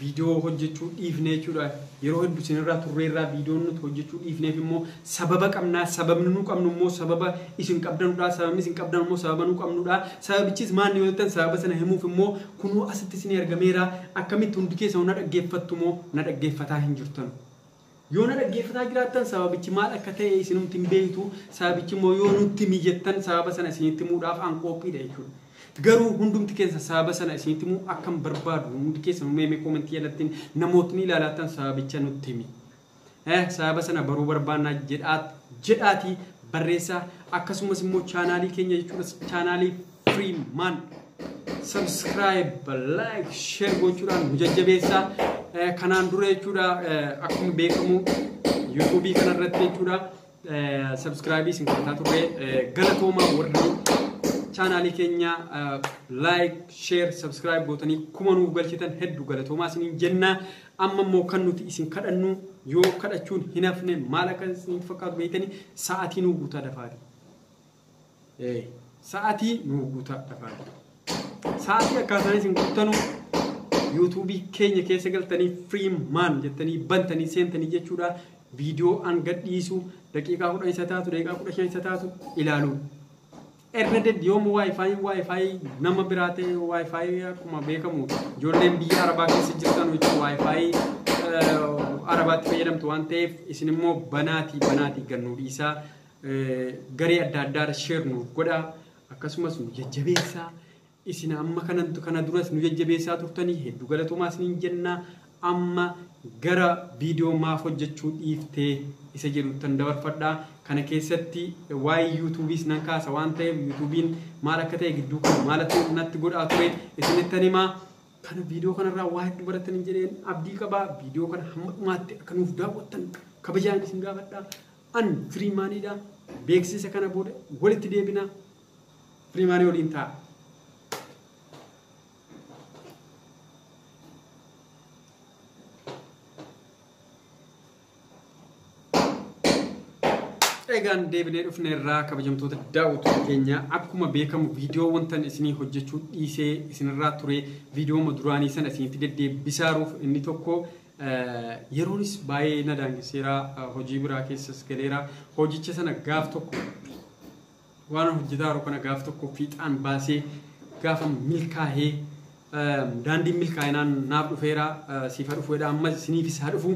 Viidiyoo hojjechuu dhiifne jechuudha. Yeroo heddu isinirraa turreerraa viidiyoon nuti hojjechuu dhiifneef immoo sababa qabnaa. Sababni nu qabnu immoo sababa isin qabdanudha. Sababni isin qabdan immoo sababa nu qabnudha. Sababichis maanni yoo jettan sababa sana himuuf immoo kunoo asitti isinii argameera. Akkamitti hundi keessan na dhaggeeffattu moo na dhaggeeffataa hin jirtanu? Yoo na dhaggeeffataa jiraattan sababichi maal akka ta'e isinumti hin beektu, sababichi immoo yoo nutti himi jettan sababa sana isinitti himuudhaaf an qoophiidha jechuudha. Garuu hundumti keessan sababa sana isinitti himuu akkan barbaadu hundi keessanuu mee mee koomentii jalattiin namootni ilaalaattan sababicha nutti himi. Eh, sababa sana baruu barbaannaa jedhaa jedhaatii barreessaa akkasumas immoo chaanaalii keenya jechuunis chaanaalii Dream Man subscribe like share gochuudhaan nu jajjabeessaa Eh, kanaan dura jechuudha eh, akkuma beekamu yuutuubii kana irratti jechuudha eh, subscribe isin kadhataa turre Eh, galatoomaa warri chaanaalii keenya eh, like share subscribe gootanii kuma nuuf galchitan hedduu galatoomaa isiniin jenna amma immoo kan nuti isin kadhannu yoo kadhachuun hin hafne maal akka isin fakkaatu beektanii sa'aatii nuu guutaa dafaati. Ee, sa'atii nuu guutaa dhafaa jira. Sa'atii akkaataa isin guuttanu yuutuubii keenya keessa galtanii free man jettanii bantanii seentanii jechuudha. Viidiyoo an gadhiisu daqiiqaa kudhan isa taatu daqiiqaa kudha shan isa taatu ilaaluu. Erga deddi yoomuu waayifaayiin waayifaayii nama biraa ta'e waayifaayii akkuma beekamu ijoolleen biyya arabaa keessa jirtan jechuun waayifaayii eh, arabaatti fayyadamtu waan ta'eef isin immoo banaatii banaatii gannuu dhiisaa garee adda addaarra share nuuf godhaa akkasumas nu jajjabeessaa isin amma kanantu kana duras nu jajjabeessaa turtanii hedduu galatoomaa isiniin jennaa amma gara viidiyoo maaf hojjechuu dhiiftee isa jedhuttan dabarfadhaa kana keessatti waa'ee yuutuubiis nan kaasa waan ta'eef yuutuubiin maal akka ta'e gidduu kana maal akka natti godhaa ture isinittan himaa kana viidiyoo kanarraa waa hedduu barattan hin jedheen abdii qabaa viidiyoo kana hamma dhumaatti akka nuuf daawwattan kabajaan isin gaafadhaa An Firiimaaniidha. Beeksiisa kana booda walitti deebina. Firiimaanii waliin ta'a. Egaan deebinee dhufne irraa kabajamtoota daawwattoota keenya akkuma beekamu viidiyoo wantan isinii hojjechuu dhiisee isinirraa ture viidiyoo duraanii sana isinitti deddeebisaaruuf inni tokko Yeroonis baay'ee na daangesseera, hojii biraa keessas galeera. Hojicha sana gaaf tokko waan hojjetaa yeroo kana gaaf tokko fiixaan baasee gaafa milkaa'ee daandiin milkaa'inaan naaf dhufeera siif haa dhufu jedha ammas isiniifis haa dhufu.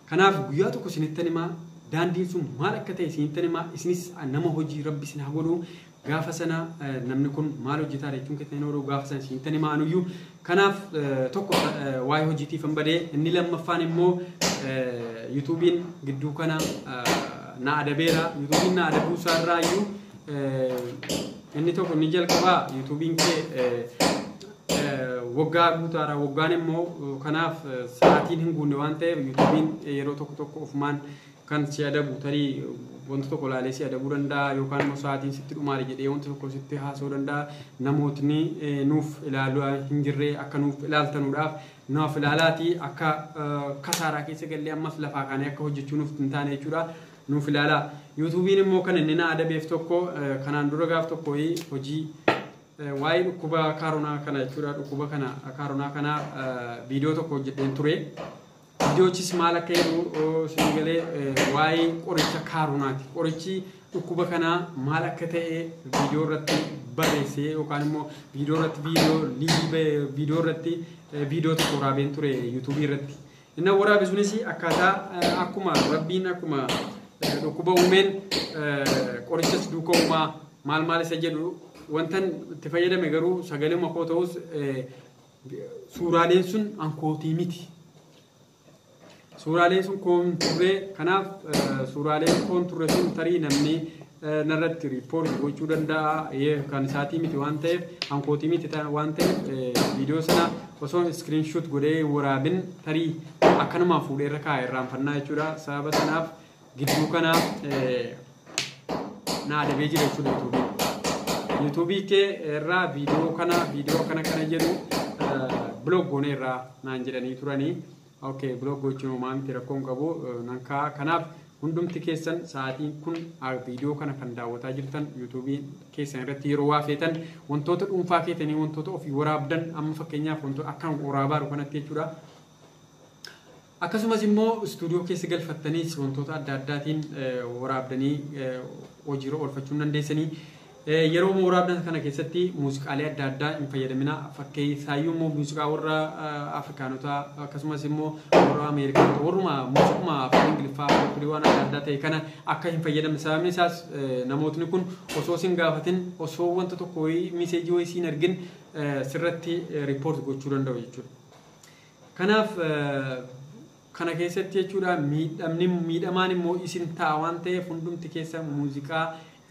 Kanaaf guyyaa tokko isinittan himaa daandiin sun maal akka ta'e isinittan himaa isinis nama hojii rabbi isin haa godhu Gaafa sana namni kun maal hojjetaa jechuun keessan hin oolu gaafa sana isin tan hima anuyyuu. Kanaaf tokko waa'ee hojiitiif hin badee inni lammaffaan immoo yuutuubiin gidduu kana na adabeera. Yuutuubiin na adabuu isaa irraa iyyuu inni tokko inni jalqabaa yuutuubiin kee waggaa guutaara waggaan immoo kanaaf sa'aatiin hin guunne waan ta'eef yuutuubiin yeroo tokko tokko ofumaan kan si adabu tarii wanta tokko ilaalee si adabuu danda'a yookaan immoo sa'aatiin sitti dhumaare jedhee wanta tokko sitti haasa'uu danda'a. Namootni eh, nuuf ilaalaa hin jirre akka nuuf ilaaltanuudhaaf nuuf ilaalaati akka eh, kasaaraa keessa gallee ammas lafaa kaanee akka hojjechuu nuuf hin taane jechuudha. Nuuf ilaalaa. Yuutuubiin immoo kan inni na adabeef tokko eh, kanaan dura gaaf tokko hojii eh, waa'ee dhukkuba kaaronaa kana jechuudha. Dhukkuba kana kaaronaa kana eh, viidiyoo tokko hojjedheen ture. Idoochis maal akka jedhu suni galee waa'ee qoricha kaaronaati. Qorichi dhukkuba kanaa maal akka ta'e viidiyoo irratti barreessee yookaan immoo viidiyoo irratti viidiyoo liivii viidiyoo irratti viidiyoo tokko waraabeen ture yuutuubii irratti. Inni waraabe sunis akkaataa akkuma rabbiin akkuma dhukkuba uumeen qorichas duuka uumaa maal maal isa jedhu wantan itti fayyadame garuu sagalee makoo ta'us suuraaleen sun ankootii miti. Suuraaleen sun koon turre kanaaf suuraaleen koon turre sun tarii namni narratti riippoorti gochuu danda'a kan isaatii miti waan ta'eef ankootii miti waan ta'eef viidiyoo sana osoo iskiriinshuut godhee waraabin tarii akkanumaan fuudhee irra kaa'e irraanfannaa jechuudha sababa sanaaf Gidduu kana na adabee jira jechuudha yuutuubii. Yuutuubii kee irraa viidiyoo kana viidiyoo akkana kana jedhu biloog goonee irraa naan jedhanii turanii. Okay, biloog gochuun homaa miti rakkoon qabu nan kaa'a. Kanaaf hundumti keessan sa'aatiin kun viidiyoo kana kan daawwataa jirtan yuutuubii keessan irratti yeroo waa feetan wantoota dhuunfaa keetanii wantoota ofii waraabdan amma fakkeenyaaf wantoota akkan waraabaa jiru kanatti jechuudha. Akkasumas immoo istuudiyoo keessa galfattaniis wantoota adda addaatiin waraabdanii hojiirra oolfachuu hin dandeessanii. Yeroo waraabdan kana keessatti muuziqaalee adda addaa hin fayyadamina. Fakkeessaayyuu immoo muuziqaa warra Afrikaanotaa akkasumas immoo warra Ameerikaanotaa warruma muuziquma afaan Ingiliffaa afaan waan adda addaa ta'e kana akka hin fayyadamne sababni isaas namootni kun osoo sin gaafatin osoo wanta tokko wayii miseejii wayii siin argin sirratti riippoorti gochuu danda'u jechuudha. Kanaaf kana keessatti jechuudha miidhamni miidhamaan immoo isin ta'a waan ta'eef hundumti keessa muuziqaa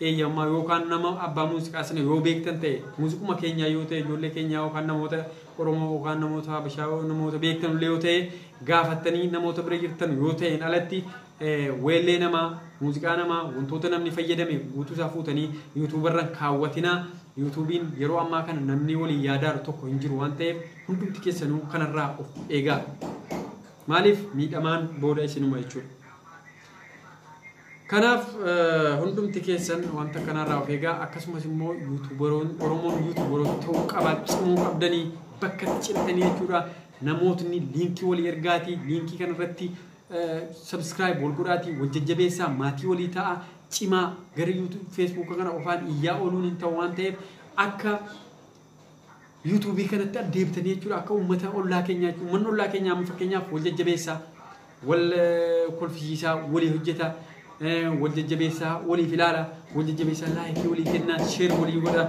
eeyyamaa yookaan nama abbaa muuziqaa sana yoo beektan ta'e muuziquma keenyaa yoo ta'e ijoollee keenyaa yookaan namoota Oromoo yookaan namoota Habashaa namoota beektan illee yoo ta'e gaafattanii namoota bira jirtan yoo ta'een alatti Weellee namaa, muuziqaa namaa, wantoota namni fayyadame guutuu isaa fuutanii YouTube irra hin kaawwatinaa. YouTube'n yeroo ammaa kana namni waliin yaadaaru tokko hin jiru waan ta'eef hundumti keessanuu kanarraa of eegaa. Maaliif miidhamaan booda isinuma jechuudha. Kanaaf eh, hundumti keessan wanta kanarraa of eegaa akkasumas immoo yuutuubaroon Oromoon yuutuubaroota ta'uu qabaa cimuu qabdanii bakka itti cimtanii jechuudha. Namootni liinkii walii ergaatii liinkii kanarratti Subscribe wal godhaatii wal jajjabeessaa maatii walii ta'a cimaa gara YouTube Facebook kana qofaan iyyaa ooluun hin ta'u waan ta'eef akka YouTube kanatti addeebitanii jechuudha akka uummata ollaa keenyaa jechuudha uummanni ollaa keenyaa amma fakkeenyaaf wal jajjabeessaa wal kolfisiisaa walii hojjetaa wal jajjabeessaa waliif ilaala wal jajjabeessaa laayikii walii kennaa sheer walii godhaa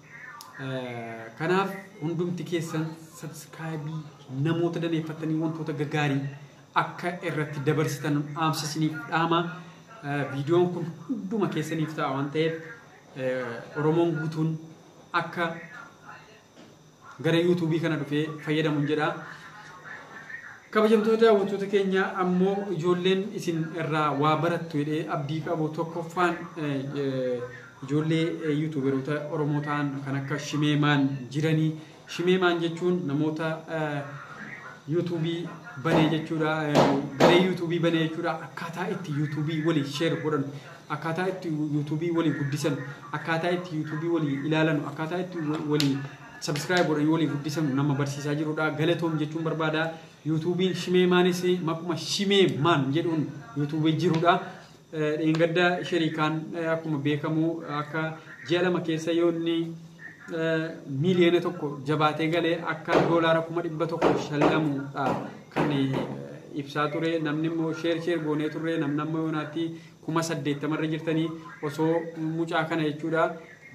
Kanaaf hundumti keessan sabskiraayibii namoota daneeffattanii wantoota gaggaarii akka irratti dabarsitan dhaamsa isiniif dhaama. Viidiyoon kun hunduma keessaniif ta'a waan ta'eef Oromoon guutuun akka gara yuutuubii kana dhufee fayyadamuun jedha. Kabajamtoota daawwattoota keenya ammoo ijoolleen isin irraa waa barattu jedhee abdii qabu tokkoffaan Ijoollee yuutuuberoota Oromoo ta'an kan akka Shimee Maan jirani. Shimee Maan jechuun namoota yuutuubii banee jechuudha. Garee yuutuubii banee jechuudha. Akkaataa itti yuutuubii walii sheer godhan, akkaataa itti yuutuubii walii guddisan, akkaataa itti yuutuubii walii ilaalan, akkaataa itti walii sabiskiraayib godhanii walii guddisan nama barsiisaa jirudha. Galatoom jechuun barbaada. Yuutuubiin Shimee Maanis maquma Shimee Maan jedhuun yuutuubii jirudha. Dheengadda shariikaan akkuma beekamu akka ji'a lama keessa yoo inni miiliyoona tokko jabaatee galee akka doolaara kuma dhibba tokko shallamuudha kan ibsaa ture namni immoo sheer sheer goonee turre namni amma yoonaatti kuma saddeettamarra jirtanii osoo mucaa kana jechuudha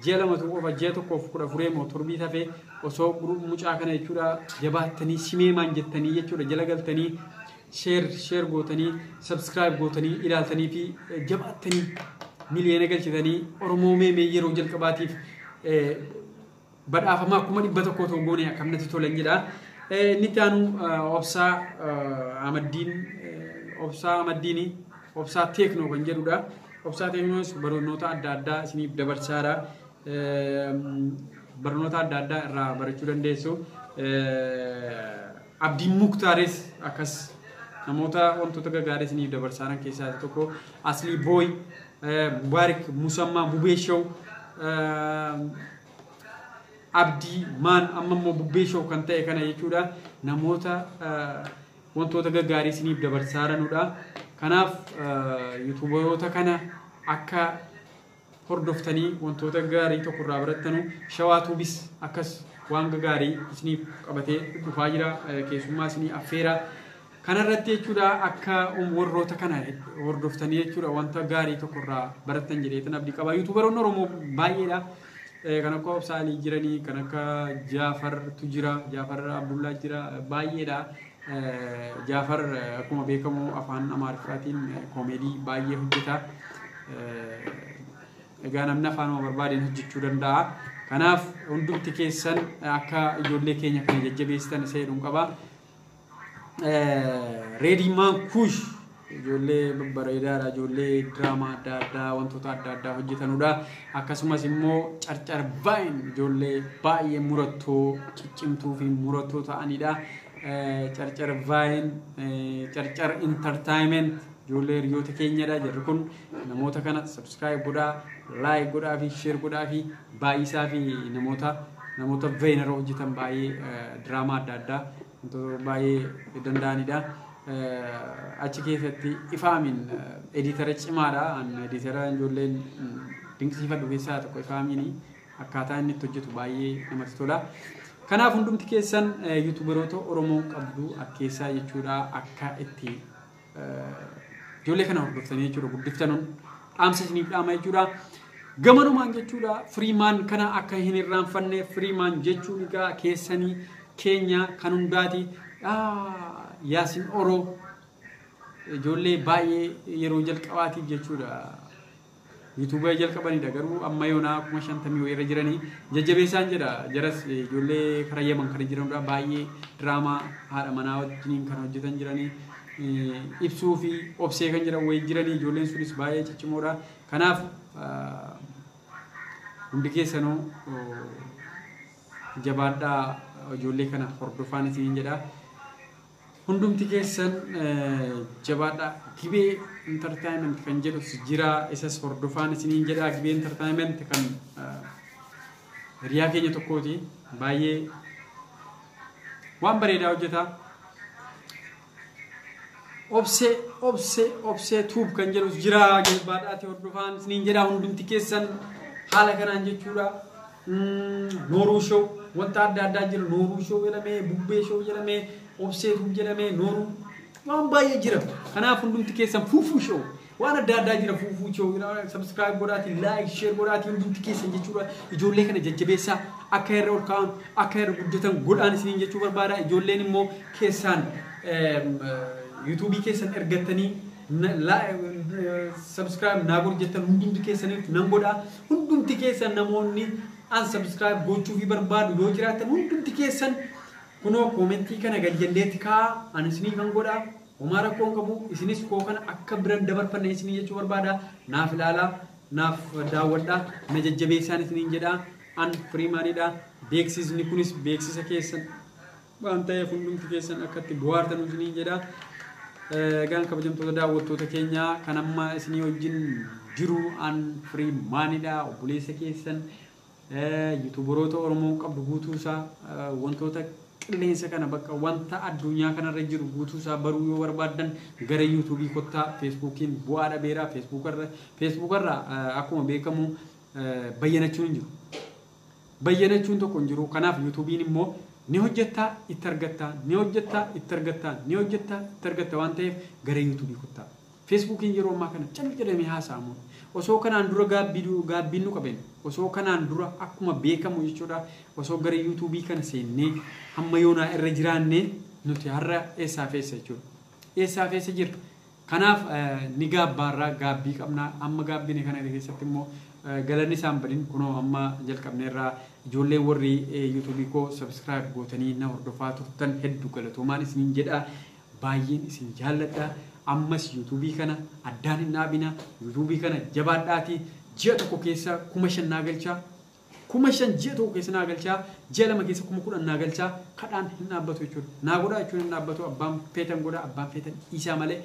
ji'a lamatu qofa ji'a tokkoof kudha furee moo torbii tafe osoo mucaa kana jechuudha jabaattanii simeemaan jettanii jechuudha jala galtanii sheer sheer gootanii sabskiraayib gootanii ilaaltanii fi eh, jabaattanii miliyoona galchitanii oromoo mee mee yeroo jalqabaatiif eh, badhaafamaa kuma dhibba tokko otoo goone akkam natti tolan jedha. Eh, Inni itti aanu eh, obsaa eh, amaddiin eh, obsaa amaddiini obsaa teeknoo kan jedhudha. Obsaa teeknoos barnoota adda addaa isiniif dabarsaara. Eh, Barnoota adda addaa irraa barachuu dandeessu. Eh, Abdiin Muktaaris akkas. Namoota wantoota gagaarii isiniif dabarsaaran keessaa isa tokko Aslii Booy, Mubaarik Musammaa, Bubee Show, Abdii Maan amma immoo Bubbee Show kan ta'e kana jechuudha. Namoota wantoota gaggaarii isiniif dabarsaaranudha. Kanaaf yuutuubaroota kana akka hordoftanii wantoota gaarii tokko irraa barattanu shawaa tuubis akkas waan gaarii isiniif qabatee dhufaa jira keessummaa isinii affeera kanarratti jechuudha akka warroota kana hordoftanii jechuudha wanta gaarii tokko irraa barattan jedheetan abdii qaba yuutuubaroonni oromoo baay'eedha kan akka obsaalii jiranii kan akka jaafartu jira jaafar abdullaa jira baay'eedha Jaafar akkuma beekamu afaan Amaariffaatiin koomeedii baay'ee hojjeta. Egaa namni afaanuma barbaadeen hojjechuu danda'a. Kanaaf hundumti keessan akka ijoollee keenya kana jajjabeessitan isa jedhuun qaba. Reediimaan kuush Ijoollee babbareedaadha. Ijoollee diraamaa adda addaa wantoota adda addaa hojjetanudha. Akkasumas immoo carcar baay'een ijoollee baay'ee murattoo ciccimtuu fi murattoo ta'anidha. Carcar baay'een carcar intartaayimeent ijoollee hiriyoota keenyadha. Jarri kun namoota kana sabskiraayib godhaa, laayik godhaa fi sheer godhaa fi baay'isaa fi namoota namoota veenara hojjetan baay'ee diraamaa adda addaa Wantoota baay'ee danda'anidha. Achi keessatti Ifaamiin ediitara cimaadha. An ediitara ijoolleen dinqisiifadhu keessaa tokko Ifaamiini. Akkaataa inni itti hojjetu baay'ee namatti tola. Kanaaf hundumti keessan yuutuubaroota Oromoo qabdu akkeessaa jechuudha akka itti Ijoollee kana hordoftanii jechuudha guddiftanuun dhaamsa isiniif dhaama jechuudha. Gamanumaan jechuudha firiimaan kana akka hin irraanfanne firiimaan jechuun egaa keessanii keenya kan hundaati. Yaasin Oroo ijoollee baay'ee yeroo jalqabaatiif jechuudha. YouTube jalqabanidha garuu amma yoonaa kuma shantamii wayii irra jiranii jajjabeessaan jedha jaras ijoollee kara yaman kan jiranudha baay'ee diraamaa haadha manaa wajjiniin kan hojjetan jiranii ibsuu fi obsee kan jedhan wayii jiranii ijoolleen sunis baay'ee ciccimoodha kanaaf hundi keessanuu jabaadhaa ijoollee kana hordofaan isiniin jedha. Hundumti keessan jabaadhaa Gibee Entertainment kan jedhus jiraa isas hordofaan isiniin jedhaa Gibee Entertainment kan hiriyaa keenya tokkooti baay'ee waan bareedaa hojjetaa obsee obsee obsee tuub kan jedhus jiraa jabaadhaati hordofaan isiniin jedhaa hundumti keessan haala kanaan jechuudha. Nooruu show wanta adda addaa jira nooruu show jedhamee bubbee show jedhamee obsee tuub jedhamee nooruu waan baay'ee jira kanaaf hundumti keessan fuufuu show waan adda addaa jira fuufuu show subscribe godhaati like share godhaati hundumti keessan jechuudha ijoollee kana jajjabeessaa akka irra ol ka'an akka irra guddatan godhaan isiniin jechuu barbaada ijoolleen immoo keessaan yuutuubii keessan ergattanii Subscribe naa godhi jettan hundumti keessaniif nan godha. Hundumti keessan namoonni unsubscribe gochuufii barbaadu yoo jiraattan hundumti keessan kunoo koomentii kana gad jalleetti kaa'a ani isinii kan godha. Homaa rakkoo hin qabu isinis koo kana akka biran dabarfanne isinii jechuu barbaada. Naaf ilaalaa naaf daawwadha na jajjabeessaan isiniin jedha. An Firiimaanidha. Beeksisni kunis beeksisa keessan waan ta'eef hundumti keessan akka itti bohaartan isiniin jedha. Egaan kabajamtoota daawwattoota keenya kan amma isinii wajjin jiru an firii maanidha obboleessa keessan yuutuubaroota Oromoon qabdu guutuusaa wantoota qilleensa kana bakka wanta addunyaa kanarra jiru guutuusaa baruu yoo barbaaddan gara yuutuubii kottaa feesbuukiin bu'aa dhabeera feesbuukarra feesbuukarra akkuma beekamu bayyanachuun hin jiru. Bayyanachuun tokko hin jiruu kanaaf yutubiin immoo ni hojjettaa itti argattaa ni hojjettaa itti argattaa ni hojjettaa itti argatta waan ta'eef gara yutubii kottaa Fesbuukiin yeroo ammaa kana cal jedhamee haasa'amuudha osoo kanaan dura gaabbii gaabbiin nu qaben osoo kanaan dura akkuma beekamu jechuudha osoo gara yutubii kana seennee hamma yoonaa irra jiraannee nuti har'a eessaaf eessa jechuudha eessaaf eessa jirra Kanaaf ni gaabbaarra, gaabbii qabna. Amma gaabbine kana keessatti immoo galanni isaa hin badin. Kunoo amma jalqabneerra. Ijoolleen warri YouTube koo subscribe gootanii na hordofaa turtan hedduu galatoomaan isiniin jedha. Baay'een isin jaalladha. Ammas YouTube kana addaan hin dhaabina. YouTube kana jabaadhaati. Ji'a tokko keessa kuma shan naa galcha. Kuma shan ji'a tokko keessa naa galchaa, ji'a lama keessa kuma kudhan naa galchaa, kadhaan hin dhaabbatu jechuudha. Naa godhaa jechuun hin dhaabbatu, abbaan feetan godhaa, abbaan feetan dhiisaa malee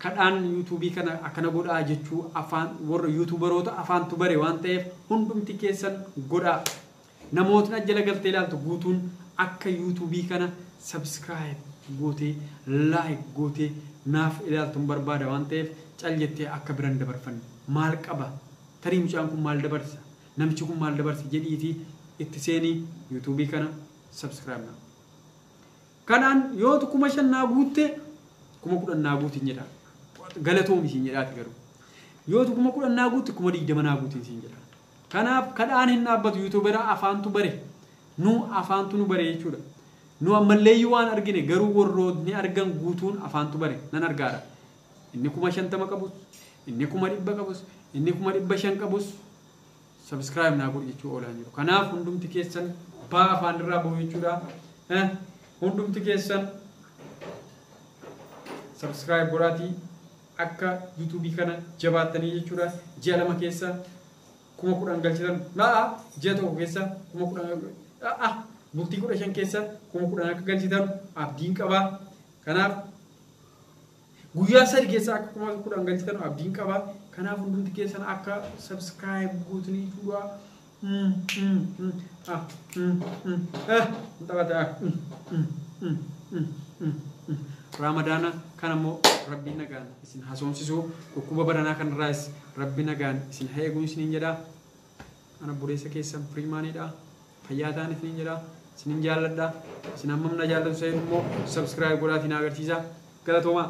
kadhaan yuutuubii kana akkana godhaa jechuu afaan warra yuutuubaroota afaantu bare waan ta'eef hundumti keessan godhaa. Namootni as jala galtee ilaaltu guutuun akka yuutuubii kana subscribe gootee like gootee naaf ilaaltun barbaada waan ta'eef cal jettee akka biran dabarfanne maal qaba tarii mucaan kun maal dabarsa Namichi kun maal dabarse jedhiiti itti seeni YouTube kana subscribe now. Kanaan yootu kuma shan naa guutte kuma kudhan naa guuti hin jedha. Galatoomi siin jedhaati garuu. Yootu kuma kudhan naa guutti kuma digdama naa guuti siin jedha. Kanaaf kadhaan hin dhaabbatu yuutuubera afaantu bare. Nu afaantu nu bare jechuudha. Nu ammalleeyyuu waan argine garuu warrootni argan guutuun afaantu bare nan argaadha. Inni kuma shantama qabus, inni kuma dhibba qabus, inni kuma dhibba shan qabus subscribe naa godhi jechuu oolaan jiru. Kanaaf hundumti keessan baa afaan irraa bahu jechuudha. Eh, Hundumti keessan subscribe godhaatii akka YouTube kana jabaattanii jechuudha. Ji'a lama keessa kuma kudhan galchitan la'a ji'a tokko keessa kuma kudhan la'a bultii kudha shan keessa kuma kudhan akka galchitan abdiin qabaa. Kanaaf Guyyaa sadi keessaa akka kumaata kudhan galchitan abdiin qaba. Kanaaf hundumti keessan akka subscribe guutanii fuudhaa. Mm, mm, mm, ah, mm, mm, ah, hin taphata, ah, mm, mm, mm, mm, mm, mm. Raamadaana kana immoo rabbiin nagaan isin hasoomsisu dhukkuba baranaa kanarraas rabbi nagaan isin haa eegu isiniin jedha. An obboleessa keessan Freeman dha. Fayyaa ta'an isiniin jedha. Isinin jaalladha. Isin hammam na jaallatu isa jedhu immoo subscribe godhaatii na agarsiisaa. Galatoomaa!